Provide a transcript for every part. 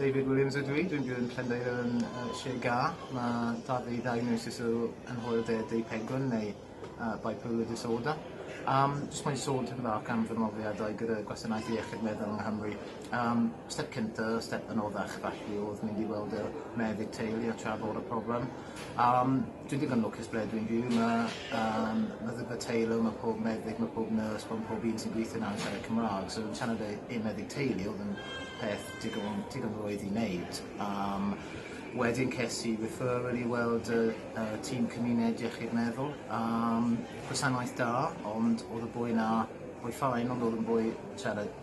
David Williams ydw i, dwi'n byw yn Llundain yn uh, Sir Ga. Mae da fi diagnosis o anhwyl de deu pegwn neu uh, bipolar disorder. Um, just mae'n sôn tipyn bach am fy mrofiadau gyda gwasanaeth iechyd meddwl yng Nghymru. Um, step cynta, step anoddach falle oedd mynd i weld y meddyg teulu a trafod y problem. Yym, dwi'n digon lwcus ble dwi'n byw, ma' yym meddygfa teulu, ma' pob meddyg, ma' pob nyrs, ma' pob un sy'n gweithio 'na yn siarad Cymra'g, so fi'n teimlo fe- un meddyg teulu odd yn peth digon digon rwydd i neud. Yym wedyn ces i referral i weld y y tîm cymuned iechyd meddwl, yym gwasanaeth da, ond odd y boi 'na, boi fine ond odd yn boi siarad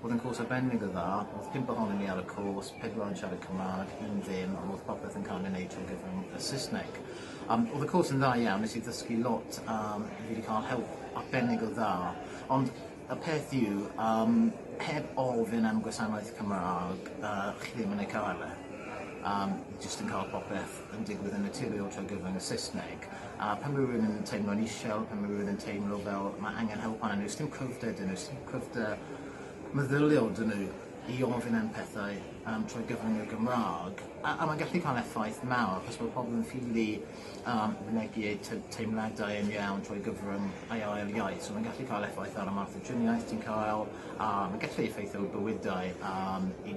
O'dd yn cwrs arbennig o dda, o'dd pump ohonon ni ar y cwrs, pedwar yn siarad Cymrâg, un ddim, a o'dd popeth yn ca'l ei neud trwy gyfrwng y Sysneg. Yym o'dd y cwrs yn dda iawn, nes i ddysgu lot a fi 'di ca'l help arbennig o dda, ond y peth yw yym heb ofyn am gwasanaeth Cymrâg yy chi ddim yn ei ca'l e. Yym jyst yn ca'l popeth yn digwydd yn naturiol trwy gyfrwng y Saesneg a pan mae rhywun yn teimlo'n isel, pan mae rhywun yn teimlo fel mae angen help arnyn nhw, sdim cryfder dyn nhw, sdim cryfder meddyliol dyn nhw i ofyn am pethau um, trwy gyfrwng y Gymraeg. A, a mae'n gallu cael effaith mawr, achos bod pobl yn ffili um, mynegu eu teimladau yn iawn trwy gyfrwng ei ail iaith. So mae'n gallu cael effaith ar y math o driniaeth ti'n cael, a mae'n gallu effeithio bywydau um, i